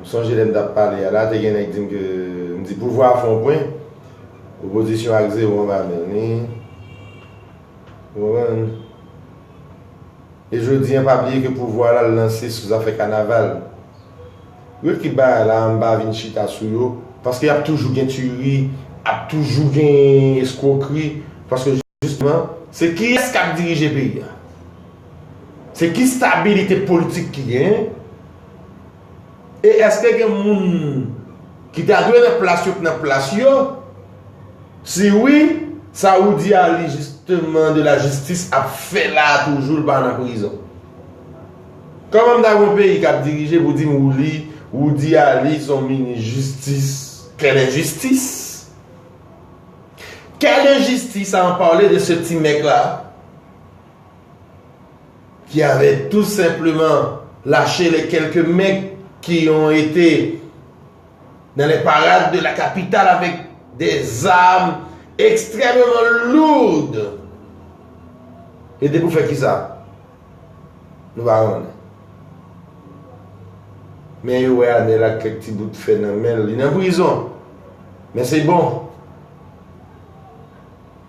M sonje lè m tap pale a la, te gen nèg di m ke m di pouvwa fè yon pwen, opozisyon ak zewo anba men li. Ou konprann? E jodi an, pa bliye ke pouvwa la l lanse sou zafè kanaval. Yo kit bagay la a, m pa vin chita sou yo, paske ap toujou gen tiyri, ap toujou gen eskwokri, paske jisteman, se kiyès kap dirije peyi a? Se ki stabilite politik ki genyen? E eske gen moun ki ta dwe nan plas yo k nan plas yo? Si wi, sa ou di a li jisteman de la jistis ap fè la a toujou l pa nan prizon? Kòman m ta gen yon peyi k ap dirije pou di m ou li, ou di a li s on minis jistis? Kèl enjistis! Kèl enjistis a an pale de se ti mèg la a? Ki avè tou senpleman lache lè kèlke mèg ki yon ete nan lè parad de la kapital avèk dè zam ekstrèmeman lourd. Ete pou fè kisa? Nou pa konnen. Men yo wè Anèl ak kèk ti bout fè nan men l. Li nan prizon. Men se bon.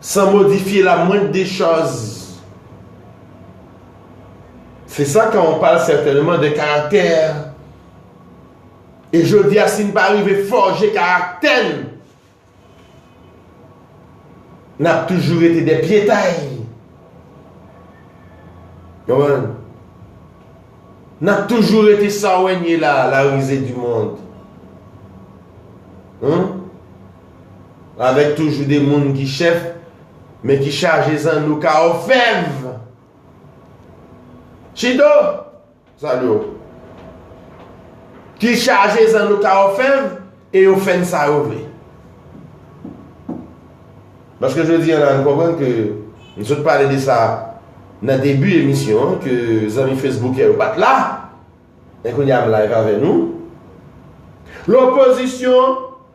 San modifye la mwend de chòz. Se sa kan on pale sètènman de karaktè. E jodi a si n pa rive fòje karaktè n, n ap toujou rete dè pyetay. Konprann? N ap toujou rete sa wè n ye la, la rize di mond. Hum? Avèk toujou de moun ki chèf, men ki chaje zanno ka òfèv! Chido! Zanno yo. Ki chaje zanno ka òfèv e yo fè n sa yo vle. Paske jodi an la nou konprann ke nou sot pale de sa nan debi emisyon an ke zanmi fesboukè yo pa t la. Men kounye a m live avè nou. Lopozisyon.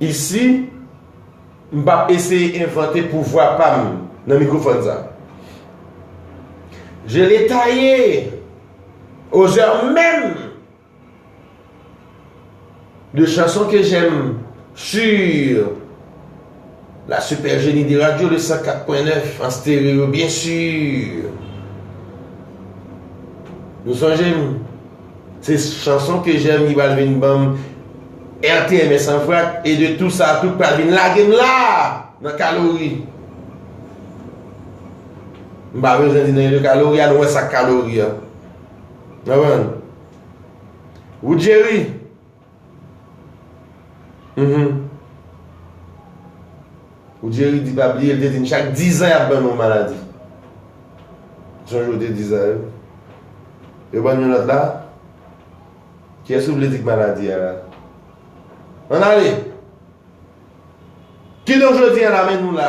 Isi, m pa p eseye envante pouvwa pa m nan mikrofòn sa. Je l'ai taille aux heures mêmes de chansons que j'aime sur La super Genie de radio le 104.9 en stéréo bien sûr Nou sonjem Se chanson ke jèm ki pral vin banm RTMS an vrat e de tou sa tout pral vin lagem la nan kalori M pa bezwen di nan yon kalori a nou wè sak kalori a Nan men Wood Jerry Ou di Eric di pa bliye, li te di n chak 10 zan y ap ban nou yon maladi. Ou sonje ou te di sa wi. Yo ban n yon lòt la. Kiyès ou vle di k maladi a la? Ann ale! Kidonk jodi a la men nou la.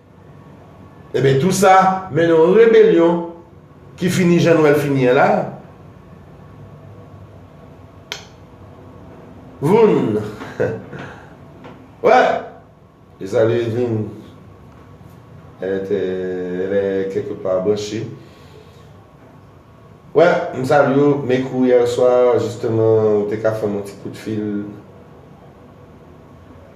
Enben tou sa mennen yon rebelyon ki fini jan Nwèl fini an la. Voun! Wè! E sa li vin? Elè te, elè kèlke pa branche. Wè, m salye w, me kou yèswa jisteman ou te ka fè m yon ti kout fil.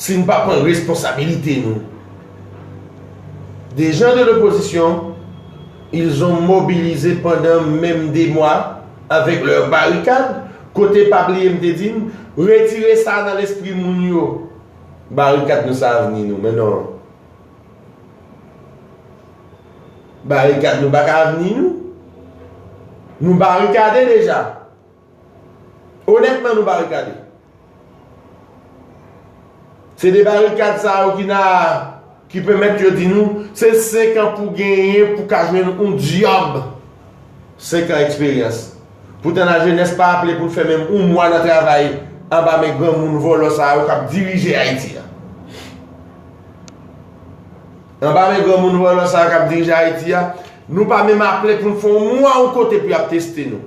Si n pa pran responsabilite nou. Des gens de l'opposition, ils ont mobilisé pendant menm 2 mois avec leurs barricades, kote pa bliye m te di n, retire sa nan lespri moun yo, barikad nou se avni nou, men non. Barikad nou pa ka avni nou. Nou barikade deja. Onètman nou barikade. Se de barikad sa yo ki la a ki pèmèt yo di nou se 5 an pou genyen pou ka jwenn yon dyòb. 5 an eksperyans. Poutan lajenès pa aple pou l fè menm yon mwa nan travay anba men granmoun vòlò sa yo k ap dirije Ayiti a. Anba men granmoun vòlò sa yo k ap dirije Ayiti a, nou pa menm aple pou n fè yon mwa yon kote pou y ap teste nou.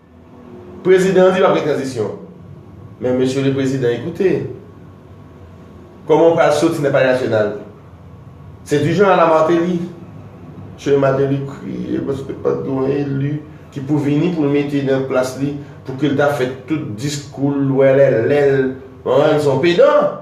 Prezidan an di pap gen tranzisyon. Men mesye le prezidan ekoute. Koman ou pral soti nan palè nasyonal. Se di jan ala Martelly. Che Martelly kriye paske pat gen yon eli ki pou vini pou l mete nan plas li pou ke l ta fè tout diskou l wèlèlè l. An, li son pedan.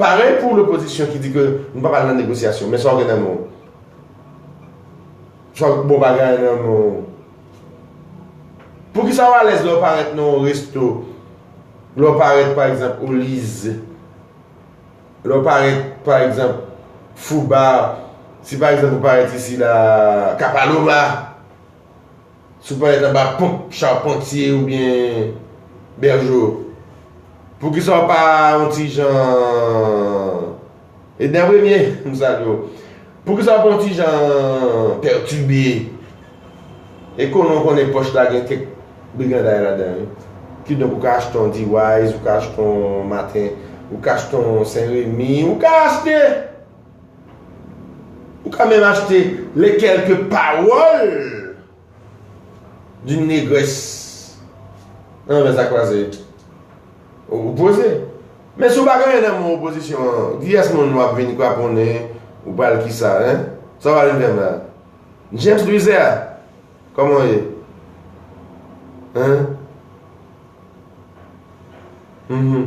Parèy pou lopozisyon ki di ke nou pa pral nan negosyasyon. Men sa w gen nan men w. Sa w gen bon bagay nan men w. Poukisa w alèz lè w parèt nan yon resto, lè w parèt pa egzanp o Liz, lè w parèt pa egzanp Foubar, si pa egzanp ou parèt isi la Kapalova? Si w parèt anba ponp charpentier oubyen bergeau poukisa w pa yon ti jan Edner Premier m salye w poukisa w pa yon ti jan pertube e konnen w konnen pòch la gen kèk briganday ladan l kidonk ou ka achte yon D-wise ou ka achte yon matin ou ka achte yon Saint Remy ou ka achte Ou ka menm achte Les quelques paroles d'une négresse nan Revers à croiser. Ou poze. Men si w pa gen anyen nan men w opozisyon an, kiyès moun w ap vin kraponnen ou pral kisa hein? Sa w al vin fè m la? James Louiser, kòman w ye? Hein? Hum hum.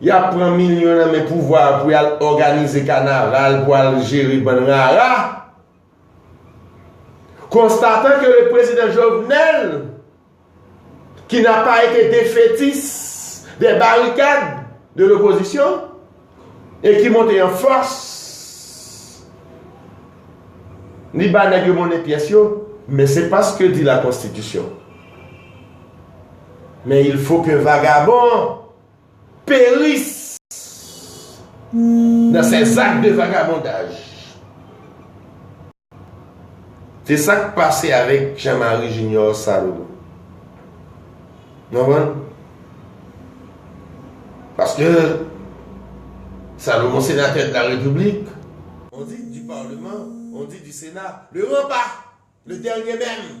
Y ap pran milyon nan men pouvwa a pou y al òganize kanaval, pou al jere bann rara. Konstatan ke le prezidan Jovenel, ki n'a pas été defetis des barikad de l'opozisyon, e ki monte an fòs, li ba nèg yo monnen pyès yo, men se pas ce que dit la constitution. Men il faut que vagabond. peris nan sè zak de vagabondaj. Se sa k pase avèk Jean Marie Junior Sanon. Nou konprann? Paske Salomon senatè de la repiblik, on dit du parlement, on dit du senat, le grand pas, le dernier meme.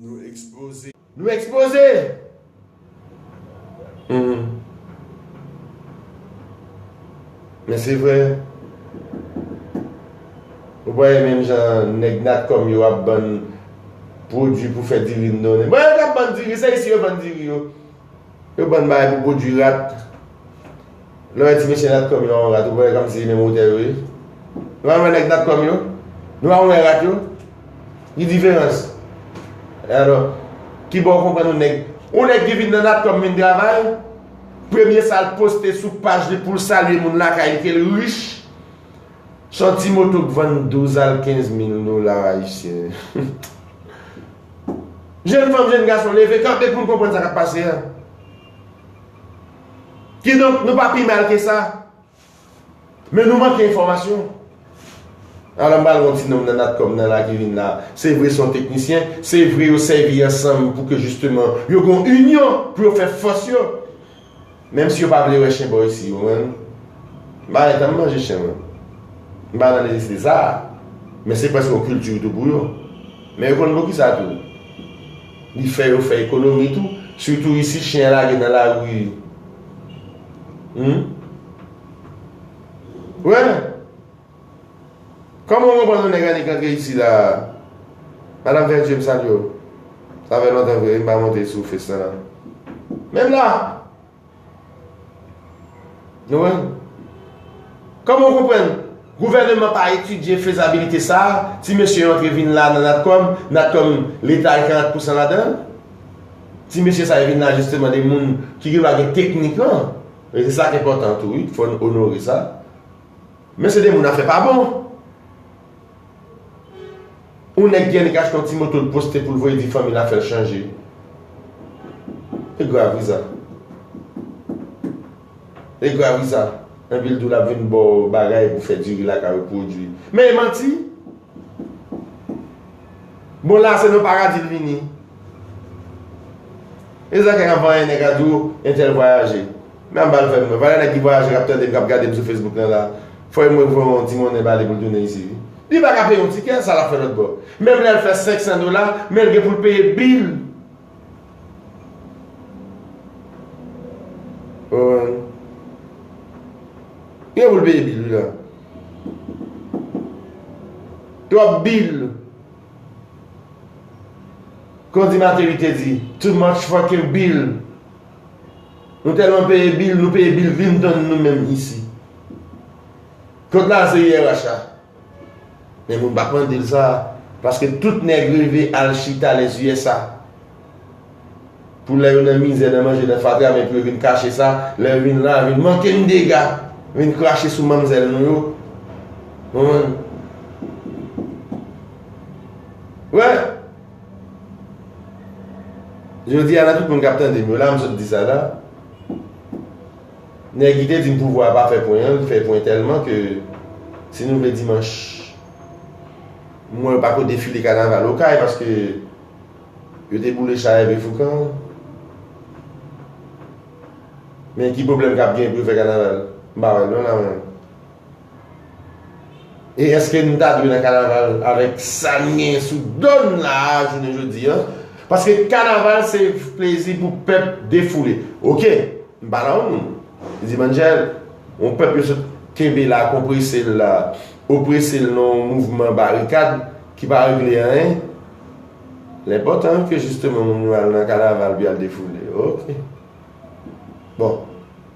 Nou ekspoze! Nou ekspoze! Hum. Men se vre. Ou pa wè menm jan nèg natcom yo ap bann pwodwi pou fè diri m non. Bon yo ka bann diri, se isi yo vann diri yo. Yo bann bagay pou pwodwi rat. Lè w wè ti mesye natcom yo anvan rat ou pa wè kòmsi se menm wotè yo ye. Nou al wè nèg natcom yo, nou al wè rat yo. Ki diferans? E alò? Ki bò ou konprann yon nèg. Yon nèg ki vin nan natcom vin travay, premye sa l poste sou paj li pou l salye moun lakay li ke l rich, s on ti moto k vann 12 al 15 mil dola ayisyen. Jenn fanm, jenn gason, leve kanpe pou n konprann sa k ap pase a. Kidonk, nou pa pi mal ke sa, men nou manke enfòmasyon. Ala m pral wè yon ti nonm nan natcom nan la ki vin la. Se vre se yon teknisyen, se vre yo sèvi ansanm pou ke jisteman yo gen yon inyon pou yo fè fòs yo. Menm si yo pa vle wè chen bò isi yo menm m pa gentan manje chen mwen m pa nan nesesite sa a men se prèske yon kilti tou pou yo men yo konn poukisa tou li fè yo fè ekonomi tou sitou isi chen lage nan lari humm wè. Kòman ou konprann yon nèg annik antre isi la a? Madam Verdier, m salye w. Sa fè lontan vre wi m pa monte sou FaceTime ak nou. Menm la! Nou wè l? Kòman ou konprann gouvèneman pa etidye fezabilite sa a, ti mesye yo antre vin la nan Natcom, Natcom Leta gen 40 pousan ladan l? Ti mesye sa yo vin la jisteman de moun ki gen bagay teknik lan. E se sa k enpòtan tou wi, fò n onore sa. Men se de moun afè pa bon. Yon nèg gen li ka achte yon ti moto l poste pou l voye di fanmi l afè l chanje. E grav wi sa. E grav wi sa. Epi l di w l ap vin ba w bagay pou fè diri lakay ou pwodui. Men e manti. Bon la se nan paradi l vini. E sa ki ap vanyen nèg la di w entèl vwayaje. Men an bal fèm wè. Valè nèg ki vwayaje kap tandem kap gadem sou Facebook nan la. Fòy mwen voye yon ti monnen bali poul tounen isi wi. Li pa ka peye yon tikè, sa lap fè lòt bò. Menm lèl fè 500 dola, menl gen poul peye bill. Owen. Li gen poul peye bill wi la. Twòp bill. Kon di Mateli te di, too much fucking bill. Nou tèlman peye bil, nou peye bil vin tann nou menm isi. Kot la se IRH la? Men moun pa k mande l sa, paske tout nèg reve al chita les usa. Pou lè yo nan mizè, nan manje, nan fatra, men pou yo vin kache sa, lè yo vin la, vin manke n dega, vin krache sou manmzèl nou yo. Ou konprann? Wè! Jodi a nan tout moun kap tandem yo la m sot di sa la nèg ki te di m pouvwa a pa fè pwen an li fè pwen tèlman ke si nou vle dimanch m wè yo pako defile kanaval okay paske yo te boule cha Herve Foucan men ki pwoblèm kap gen pou yo fè kanaval m pa wè l non la mwen. E eske nou ta dwe nan kanaval avèk sa n genyen sou do n la a jounen jodi an? Paske kanaval se plezi pou pèp defoule. Ok, m pale an moun. M di Manjèl, yon pèp yo sot kenbe la, konprese l la, oprese l nan yon mouvman barikad ki pa regle anyen. L enpòtan ke jisteman moun yo al nan kanaval pou y al defoule. Ok. Bon.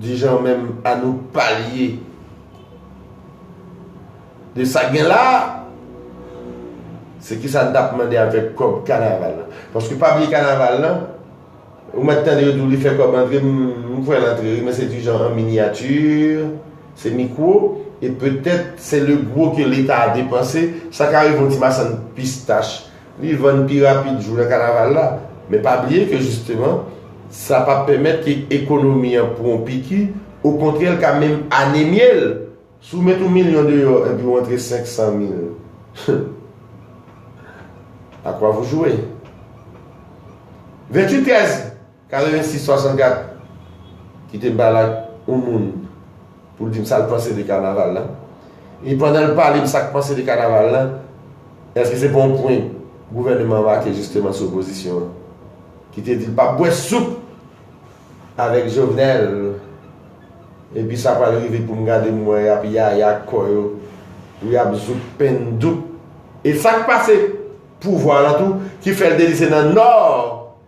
di jan menm Anouk palye de sak gen la a se kisa n tap mande avèk kòb kanaval la paske pa bliye kanaval lan ou mèt tande yo di w li fè kòb antre m wè l antre wi men se di jan an minyati se mikwo e petèt se le gwo ke leta depanse sa ka rive yon ti masann pistach Li vann pi rapid jou nan kanaval la. Men pa bliye ke jisteman, sa pa pèmèt ke ekonomi an pran yon piki, okontrè l ka menm anemye l! Si w met yon milyon deyò epi w antre 500 mil, humm! A kwa vou jwe? 28 èz. 86 64 Kite m pale ak yon moun pou l di m sa l panse de kanaval la e pandan l pale m sa k panse de kanaval la èske se pa yon pwen gouvèneman an make jisteman sou opozisyon an ki te di l p ap bwè soup avèk Jovenel epi sa pral rive pou m gade m wè y ap yaya ak kò yo pou y ap zouk pen douk e sa k pase pouvwa lan tou ki fè l te di se nan nò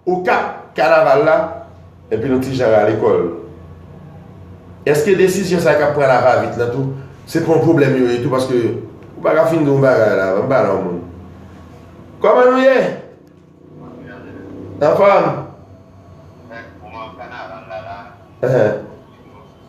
Okap, kanaval la, epi nou ti jan rale kò l. Eske desizyon sa k ap pran la va vit lan tou, se pa yon pwoblèm yo ye tou paske ou pa ka fin di yon bagay la avan m pale yon mo. Kòman nou ye? Anfòm? Anfòm, kòman kanaval la la? Anhan.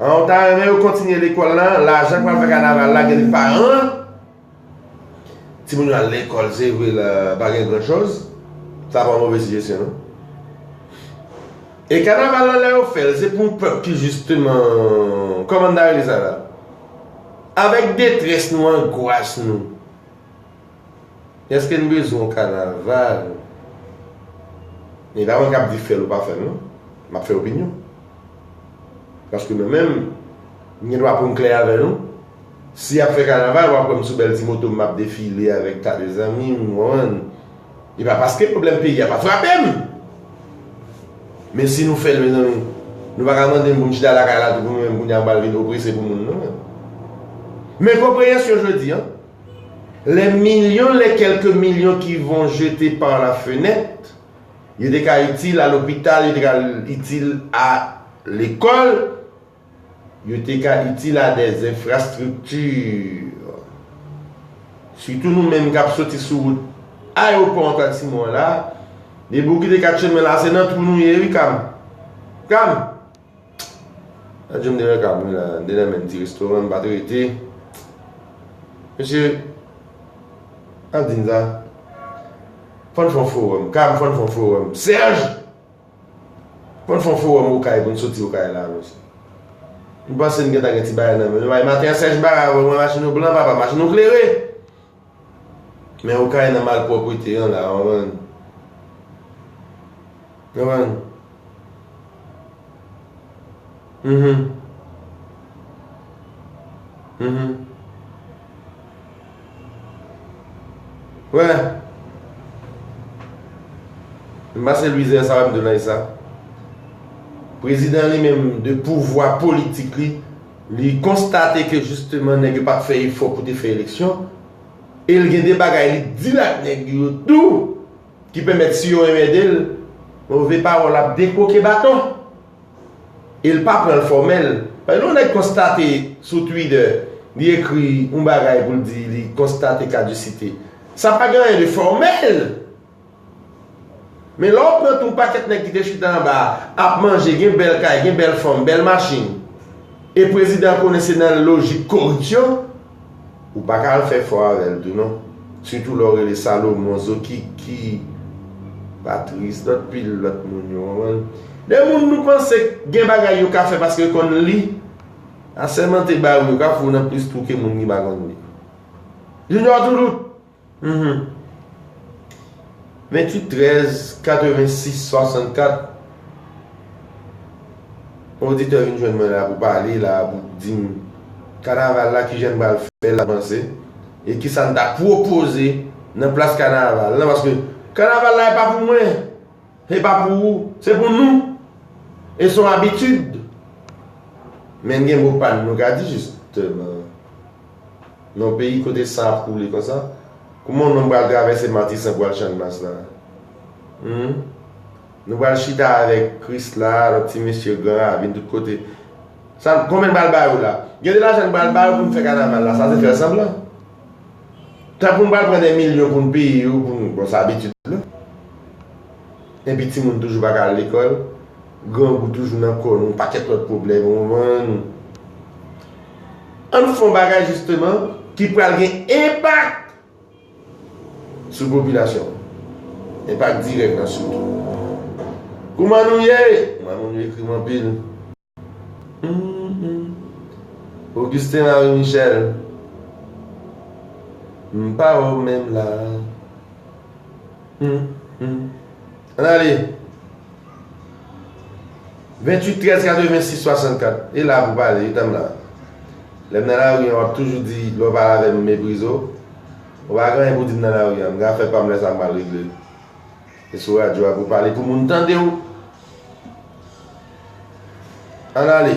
An ou ta renmen yo kontinye lekòl lan, lajan pral fè kanaval la gen li paran an, timoun yo al lekòl se vre l pa gen gran choz, sa pa move sijesyon non. E kanaval lan lè yo fè l se pou yon pèp ki jisteman, kòman n ta rele sa la, avèk detrès nou, angwas nou. Eske n bezwen yon kanaval? E pa mwen k ap di fè l ou pa fè l non. M ap fè opinyon. Paske mwen menm, m gen dwa pou m klè avè nou. Si y ap fè kanaval, w ap wè m sou bèl ti moto m, m ap defile avèk ta de zanmi m, ou konprann. E pa paske pwoblèm peyi a pa frape m! Men si nou fè l mezanmi, nou pa ka mande m pou m chita lakay la tou pou nou menm kounye a m pral vin oprese pou moun non. Men konpreyansyon jodi an, Les millions les quelques millions qu'ils vont jeter par la fenêtre, yo te ka itil a lopital, yo te ka itil a lekòl, yo te ka itil a des infrastructures. Sitou nou menm k ap soti sou wout ayewopò Antoine Simon an la, depi w kite 4 chemen la se nan twou nou ye wi Cam. Cam! Nan djom dèyè kab mwen la, dèyè menm ti restoran m pa t rete. Mesye, n ap di n sa, fò n fè yon fowòm, kay m fò n fè yon fowòm. Serge! Fò n fè yon fowòm Okay pou n soti Okay la mesye. M panse m gen ta gen ti bagay nan men m. Maten an Serge Barra wè mwen machin ou blan papa, machin ou klere! Men okay nan malproprete an la anvann anvann humm humm weh m pase lwize sa m de nan usa prezidan li menm de pouvwa politik li Li konstate ke jisteman nèg yo pa t fè efò pou te fè eleksyon, e l gen de bagay li t di l ak nèg yo tou ki pèmèt si yo enmède l, move pawòl ap dekwoke baton. E l pa pran l fòmèl. Lè yon nèg konstate sou Twitter, li ekri yon bagay pou l di li konstate kadisite, sa pa gen anyen de fòmèl. Men lè w pran tou pakèt nèg ki te chita anba a ap manje, gen bèl kay, gen bèl fanm, bèl machin e prezidan an konnen se nan lojik koripsyon, ou pa ka al fè fò avè l tou non. Sitou lè w rele Salomon, Zokiki, Patrice, lòt pil lòt moun yo, konprann. De moun nou panse k gen bagay yo ka fè paske yo konn li, asèmante ba yo, yo ka fè w nan plis twou ke moun ki pa konn li. Junior Toulout! 28 13 86 64 On oditè vin jwenn mwen la pou pale la pou di m kanaval la ki jan n pral fè l avanse e ki sa n ta pwopoze nan plas kanaval la paske kanaval la e pa pou mwen e pa pou ou se pou nou e s on abitid men gen mo pa n nou ka di jisteman. Nan yon peyi kote san ap koule konsa, kouman yon nonm pral travèse Matisan pou al Channmas la? Hum? Nou pral chita avèk Kris la, lòt ti mesye, gran ravin, tout kote. Sa, konbyen n pral ba yo la? Gen de lajan n pral ba yo pou n fè kanaval la, sa se fè sanblan. Tankou n pral pran dè milyon pou n peye yo pou nou, bon sa abitid nou. Enpi timoun toujou pa ka al lekòl. Grangou toujou nan kò nou, pakèt lòt pwoblèm ou man. Ann fon bagay jisteman ki pral gen enpak sou popilasyon an. Enpak dirèk nan sitou. Kouman nou ye? Kouman nou nou ekri m anpil. Humm Augustin Henri Michel m pa wè w menm la humm. Ann ale! 28 13 86 64 E la pou pale wi tanm nan Lè m nan lari an w ap toujou di lè w pale avè m m meprize w Ou pa gen anyen pou di m nan lari an M gen afè pa m lè sa m mal regle E sou radyo a pou w pale pou moun tande w Ann ale!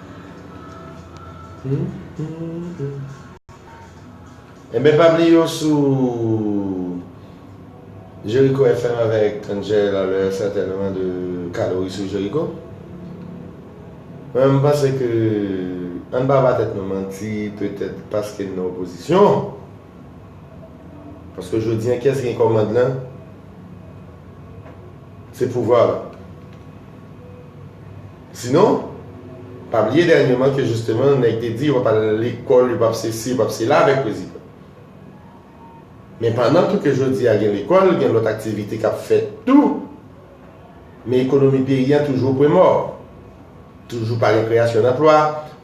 Enben pam li yo sou Jericho FM avèk Angel a lè sètènman de kalori sou Jericho. Mwen m panse ke an n pa ba tèt nou manti petèt paske n nan opozisyon. Paske jodi an kiyès gen kòmand lan? Se pouvwa lan. Sinon, pa bliye dènyeman ke jisteman nèg te di yo pap al lekòl, yo pap sesi, yo pap sela avèk prezidan. Men pandan tou ke jodi a gen lekòl, gen lòt aktivite k ap fèt tou, men ekonomi peyi an toujou o pwen mò. Toujou pa gen kreyasyon danplwa,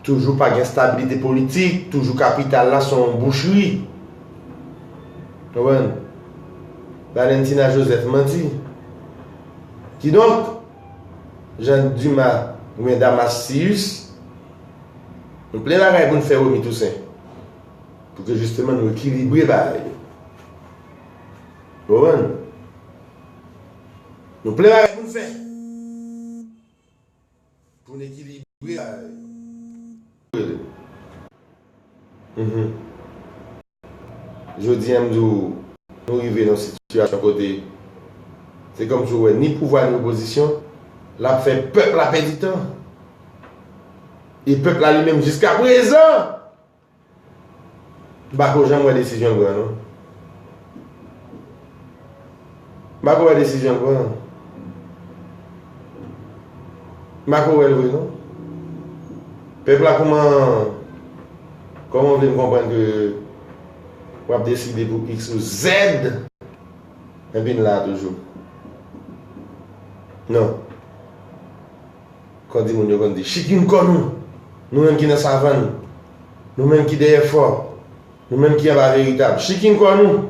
toujou pa gen stabilite politik, toujou kapital la son w bouchri. Konprann? Valentina Joseph manti. Kidonk. Jean Dumas oubyen Damas Cius, nou plen lakay pou n fè Remy Toussaint pou ke jisteman nou ekilibre bagay yo. Ou konprann? Nou plen bagay pou n fè pou n ekilibre bagay yo. Jodi an m di w nou rive nan yon sitiyasyon kote se kòmsi w wè ni pouvwa ni opozisyon l ap fè pèp la pèdi tan. E pèp la li menm jiska prezan m pa ko janm wè desizyon l pran non. Mpako wè desizyon l pran an. Mpako wè l vre non. Pèp la kouman kòman w vle m konprann ke wap deside pou x ou z epi n la toujou. Non. Kon di moun yo konn di chik youn kò nou. Nou menm ki nan savann. Nou menm ki dèyè fò. Nou menm ki anba veritab. Chik youn kò nou.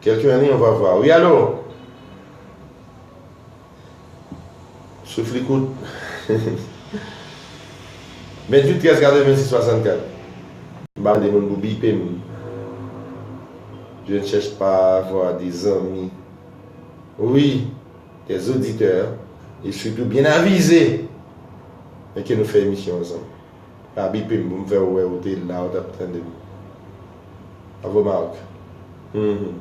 Kèlken an li yon vava wi alo souf li kout 28 13 86 64. M pa mande moun pou bipe m je ne chèch pa avwa de zanmi wi des auditeurs et surtout byen avize men ke nou fè emisyon ansanm. Pa bipe m pou m fè w wè ou te la ou t ap tande m. Bravo Marc. Humm.